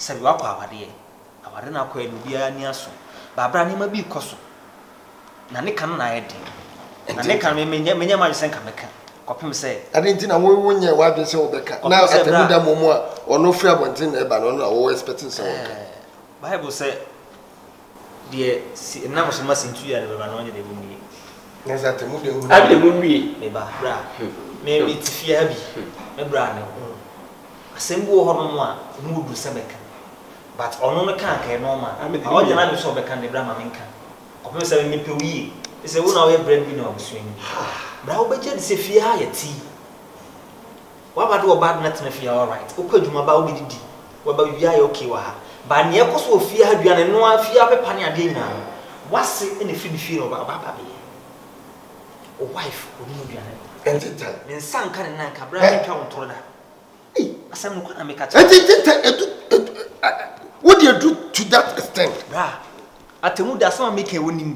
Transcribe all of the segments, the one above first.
sɛ wakɔ awadeɛ awade no akɔ ɛno biara ni aso baabra nneɛma bi kɔ so na ne ka no na ayɛ den na ne ka no menyɛ menyɛ ma sɛ nka mɛka kɔpem sɛ ɛde nti na wo nyɛ wadwen sɛ wobɛka na atɛmu da mu mu a ɔno firi abɔnten na ɛba no ɔno na wɔwɔ expecting sɛ wɔka bible sɛ Deɛ si nam so ma sintui a ne bɛba no ɔnyɛ deɛ mu nwie. Ne sɛ te mu deɛ hunu. Ade deɛ mu nwie. Me ba bra me me te fie ha bi me bra me ho asɛm bi wɔ hɔ nom a emu ɔduru sɛ mɛka but ɔno no kaa kɛɛ nɔɔma a ɔgyina n'adwene sɛ ɔbɛka no deɛ bra ma me nka kɔpem sɛ me me pɛ wo yie te sɛ wo na woyɛ bread winner wɔ abusua no mu bra wo bɛgye adi sɛ fie ha yɛ te yi. Waba de ɔba abɛtena fie ha alright wokɔ adwuma ba wobɛdidi waba biribiara yɛ okay wɔ ha but nea ɛkɔ so wɔ fie ha aduane ɛnoa fie ha pepa ne adeɛ nyinaa no wase na ɛfiri ne fie na ɔba aba abɛyɛ wo wife ɔnim aduane noa Ɛnte tan. Me nsa nka ne nan ka berɛ a mentwa wo ntoro da Ei asɛm no kwan a meka kyerɛ Ɛnte ɛnte tan ɛdu ɛdu ɛ wode aduru to that extent. Bra, atemmuda asɛm a meka yi wonim?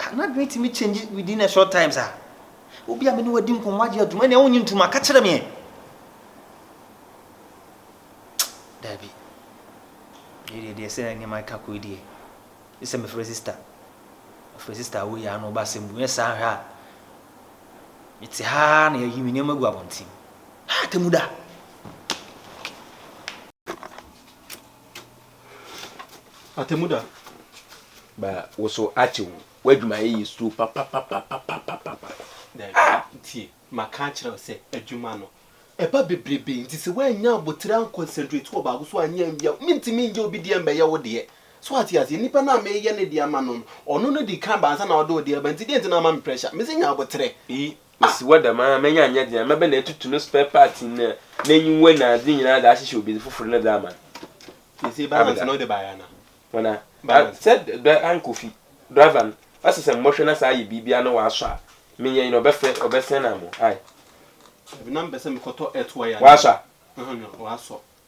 Ah n'adwene tumi change within a short time saa? Obi a me ne wadi nkɔmmɔ agye atum ɛnna wonye ntum a ka kyerɛ me ɛ. Dabi. Yɛ deɛ deɛ sɛ nneɛma ka kɔ yi deɛ. Gye sɛ mefrɛ sister. Mefrɛ sister a woyɛ ano ba asɛm bu. Nyɛ saa hwɛ a mete ha na yɛayi me nneɛma gu abɔnten. Ha atemmu da. Atemmuda ba wo so akye wo. W'adwumayɛ yɛ suro papapapapapapa. Daabi, tie, maka akyerɛ wo sɛ adwuma no, ɛba bebrebe, nti sɛ woannya abotire anconcentrate wɔ baako so anyɛ anwie a, mentumi nnyɛ obi deɛ mmɛyɛ wo deɛ. So ate aseɛ? Nipa no a mereyɛ ne deɛ ama no no, ɔno no di kan ba ansa na ɔde wo deɛ reba, nti deɛ nti na woama me pressure? Mese nya abotire. Eyi Mesi hɔ dɛm ara, manya annyɛ dzen a, mɛba na etutu no spare parts na n'enyiwa na adze nyina dze ahyehyɛ obi dze fofor no dze ama no. Sesei balance no wode bae ana? Hɔn a? Balance. Sɛ dɔ ann Kofi, driver no, ɔse sɛ mbɔhwɛ na sɛ ayɛ biribiara na ɔasɔ a, menyɛ nye no, ɔbɛfrɛ, ɔbɛsɛn ama wo, ae? Dabi, na mepɛ sɛ mekɔtɔ earth wire no. Ɔasɔ a? Hɔn a, ɔasɔ.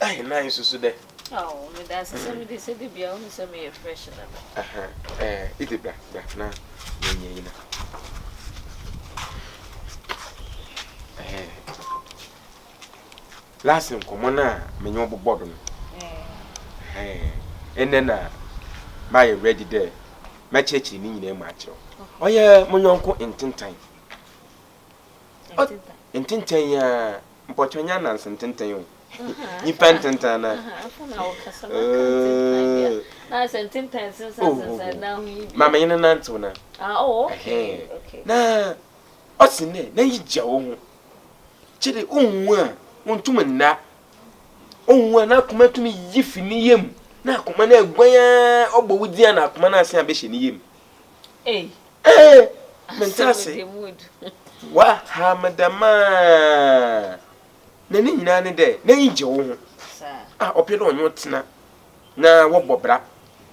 Ae na esusu dɛ. Aw, meda ase sɛ mede sɛ da biara wohu sɛ meyɛ fresh na me. Aha, ɛɛ, edze bra, bra na yɛnyɛ iyi na. Ɛɛ, last nkɔmmɔ no a menye wo bobɔ do no, ɛɛ, ndɛ na mayɛ ready dɛ mɛkyerɛkyerɛ ne nyinaa mu akyerɛ wo. Ɔyɛ mo nyɔnko Ntentan. Ntentan? Ntentan yi ara. Mpɔkyɛ ɔnnyɛ ananse ntsentsen o, nyimpa ntsentsen no ooh ma menye no nantsew no ɛhɛɛn na ɔsen dɛ n'enyi gya woho, kyerɛ ohu a onntum nnda, ohu a n'akoma tum yi fi ne yamu, n'akoma no aguan ara ɔbɔ wo dzin a n'akoma no asen abɛhyɛ ne yamu. Ei, mente ase. Woaha me dɛm a. Na ne nyinaa ne dɛ, n'ani gye wo ho. A ɔpɛ dɛ ɔnye wo tsena na wɔbɔ bra.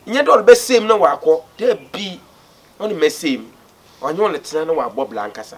Nnyɛ dɛ ɔrebɛsɛɛ mu na ɔakɔ, dabi, ɔnnyɛ mɛsɛɛ mu. Ɔnye wo retsena na ɔabɔ bra ankasa.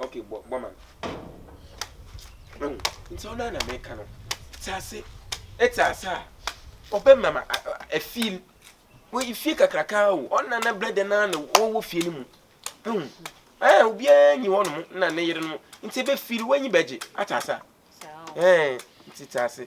Okay, bɔ bɔ ma no. Ɛhu nti ɔno ara na meka no. Te ase ɛte ase a ɔbɛma ma afie no wɔyi fie kakraka o ɔna na brɛdɛ no ara na wɔwɔ fie no mu. Ɛhu ɛɛ obiara nyi hɔ nom na ne yere no nti ebe fie no wɔnyi bɛgye ate ase a. Ɛɛ nti te ase.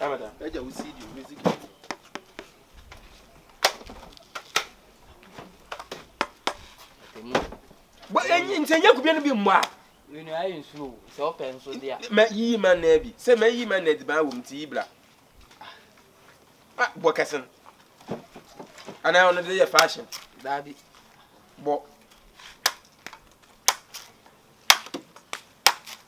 Abada. Agya wo CD wo music no. Bɔ enyi nti enye kubie no bi mmɔ a. Wenu ayɛ nsuo o sɛ ɔpɛ nso de a. Mɛ yiyi ma nna bi sɛ mɛ yiyi ma nna di ban wɔ mu ti yi bla. Ah bɔ kɛsen. Anaa ɔno de yɛ fashion. Daabi. Bɔ.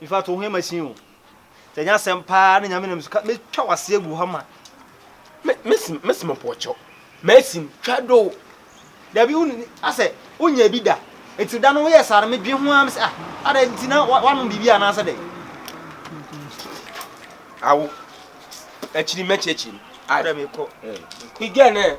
In fact, wo ho ma sin o. Sɛ nyɛ asɛm paa na nyame nam so ka metwa wase agu hɔ ma. Mesim mesim pɔkyɛw. Mesim twa do. Dabi wo asɛ wonya bi da. Enti da no woyɛ saa no medwen ho am sɛ ah ada enti na wanom biribi anaasɛ dɛ. Awo. Akyiri mɛkyerɛkyerɛ. Ada mekɔ. Igɛ nɛ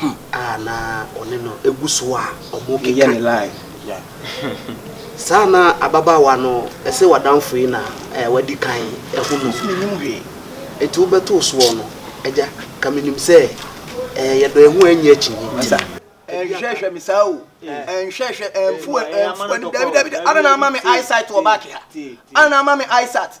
ho. A na ɔne no gu so a wɔrekeka. Saa na ababaawa no se w'adamfo yi na wadi kan ahu no. Enti wobɛtoo soɔ no, Agya, ka menim sɛ yɛdɔ yɛn ho anyi akyinnye nti. Ɛnhwɛhwɛ me saa o, ɛnhwɛhwɛ, ɛnfu, ɛnfu, dabi, dabi, dabi, adɛn na ama me eyesight wɔ back ha? Adɛn na ama me eyesight?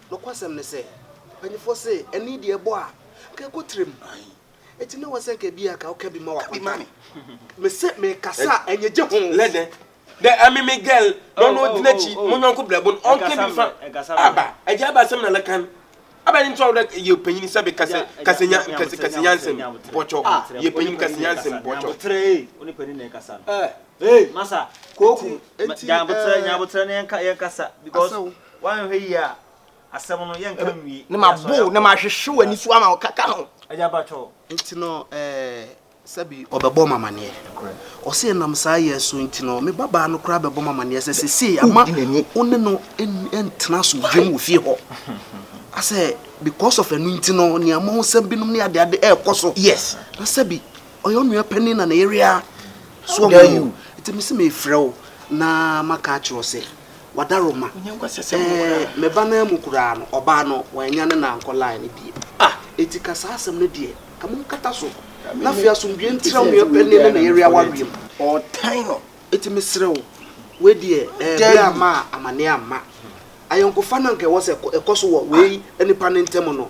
Nokwasɛm ne sɛ, mpanyimfo se ɛno yi deɛ ɛbɔ a, anka ɛkɔ tirim. Enti na wɔsɛ anka ebia anka woka bi ma wakɔgye. Mese mekasa a, ɛnyɛ gye ho. Lɛ dɛn? Dɛ ɛme me girl na ɔno odi n'akyi, mo nyɔnko brɛbo no, ɔnka bi mfa. Aba, agya aba asɛm na lɛkan. Adɛn nti a wo dɛ yɛ ɔpanyin sɛbe kasa kasa nya kasa kasa nyansɛm bɔtɔ. Yɛ ɔpanyin kasa nyansɛm bɔtɔ. Enti, enti, eh, asaw. Woanhwɛ yie a, asɛm no, yɛnka nwie. Na mabow na mahwehwe w'ani so ama wo kaka ho. Agya Bacow. Nti no ɛɛ, sɛbi ɔbɛbɔ me amaneɛ. Ɔse ɛnam saa yɛ so nti no, me babaa no koraa bɛbɔ me amaneɛ sɛ sesei ama wo ne no ntena asomdwoe mu wɔ fie hɔ. Asɛ because of ɛno nti no, nneɛma ho nsɛm binom ne adeade ɛɛkɔ so. Na sɛbi ɔyɛ onua panin na ne yere ara. So ɔho. Nti mese meefrɛ wo na maka akyerɛ wo sɛ. Wadaroma. Ɛɛ, me ba no amu koraa no, ɔbaa no, wannya ne na ankɔ line no bio. Ah! Enti ka saa asɛm no deɛ, ka monkata so, na afei asomdwoeɛ ntena mo yere panin ne ne yere awareɛ mu. Ɔretan no. Enti mesrɛ wo, wei deɛ, ɛɛ, berɛ amma a, amanneɛ amma. Ayɔnkofa no a anka ɛwɔ sɛ ɛkɔ so wɔ wei nnipa no ntam no,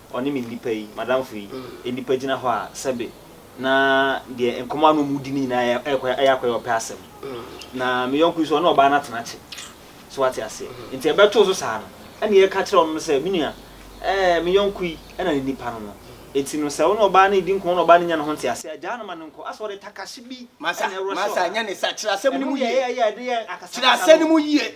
ɔne me nnipa yi, m'adamfo yi, nnipa gyina hɔ a, sɛbe na deɛ nkɔmmɔ a na wɔredi no nyinaa yɛ ɛkɔ ayɛ akɔyɛ ɔpɛ asɛm. Na me yɔnko yi nso, ɔne ɔbaa no atena kye. So wate aseɛ? Nti ɛbɛtoo so saa no, ɛnna yɛka kyerɛɛ ɔno no sɛ, Me nua, ɛɛ, me yɔnko yi na ne nnipa no no. Enti no, sɛ wo ne ɔbaa no redi nkɔmmɔ na ɔbaa no nnya ne ho nteaseɛ a, gyaa no ma no nkɔ. Asɛ ɔde takahye bi na ɛrɔhyɛ ɔbaa no. Kyerɛ asɛm no mu yie.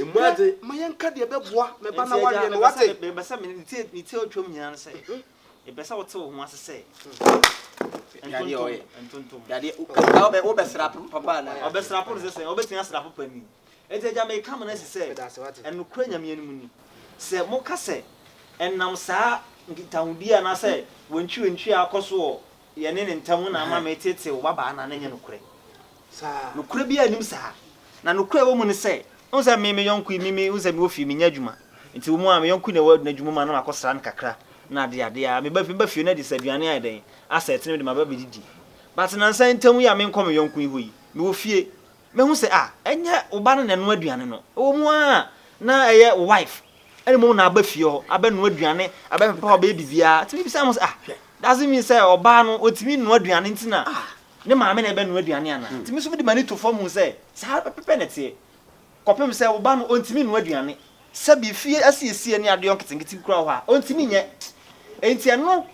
Mmu adze. Hwɛ, ma yɛnka deɛ ɛbɛboa me ba na wareɛ no, wate? Enti, Agya, mepɛ sɛ, mepɛ sɛ ne ti a atwam nyinaa no sɛ, mepɛ sɛ wote wo ho ase sɛ, ntontom, ntontom. Hwɛ adeɛ, wobɛ, wobɛsra papa anaa? Ɔbɛsra po no sɛ sɛn? Ɔbɛtumi asra po pa ni. Enti, Agya, mereka mo no asi sɛ, ɛnokorɛ Nyame anim ni, sɛ moka sɛ, ɛnam saa nkitahodie anaasɛ wantwiwantwi a akɔ so wɔ yɛne ne ntam na ama meteetee wo babaa no a, na ɛnyɛ nokorɛ. Nokorɛ biara nnim saa. Na nokorɛ a ɛwɔ mu ne sɛ, wohu sɛ me, me yɔnko yi, me, me, wohu sɛ mewɔ fie, mennyɛ adwuma. Nti wo mu a, me yɔnko yi na ɛwɔ n'adwuma mu a, na makɔsra no kakra, na adeɛ adeɛ a, meba, meba fie no adi sɛ aduane ayɛ dɛn, asɛe te no, mede maba bɛdidi. But nnansa yi ntam yi a menkɔ me yɔnko yi hɔ yi, mewɔ fie, mahu sɛ, ah, ɛnyɛ wo ba no na ɛnoa aduane no. Ɛwɔ mu ara a, na ɛyɛ wo wife. Ɛna mmom na aba fie hɔ abɛnoa aduane, abɛpepa hɔ, abɛyɛ biribiara. Tumi bisa mo sɛ, ah, hwɛ, doesn't mean sɛ ɔbaa no ɔtumi noa aduane nti na ne maame na ɛbɛnoa aduane anaa? Tumi nso mede m'ani to fam hu sɛ saa pɛpɛpɛ na ɛteɛ. Kɔpem sɛ wo ba no ɔntumi noa aduane. Sɛbi fie asiesie ne adeɛ nketenkete kura wɔ hɔ a ɔntumi nyɛ. Enti ɛno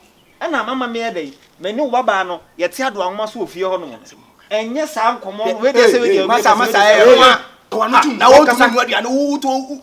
na mama meyɛ dɛn? Me ne wo babaa no yɛte adoa nwoma so wɔ fie hɔ nom no. Ɛnyɛ saa nkɔmmɔ no, wei deɛ sɛ wei deɛ wei deɛ sɛ wei deɛ sɛ wei deɛ. Kɔwa no tum, na ɔntumi noa aduane, wo wo to wo.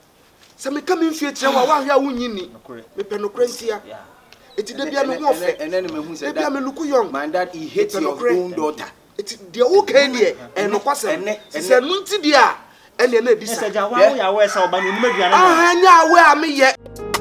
sɛ meka me mfie kyerɛ wo a woanhwɛ a wonnye nni mepɛ nokorɛ ntia ɛti da bia me ho ɔfɛ da bia me luku yɔn mepɛ nokorɛ ɛti deɛ wokae deɛ ɛnokwasɛm sɛ sɛ ɛno nti deɛ a ɛneɛ na ɛdi sa ɛnyɛ awɛ a meyɛ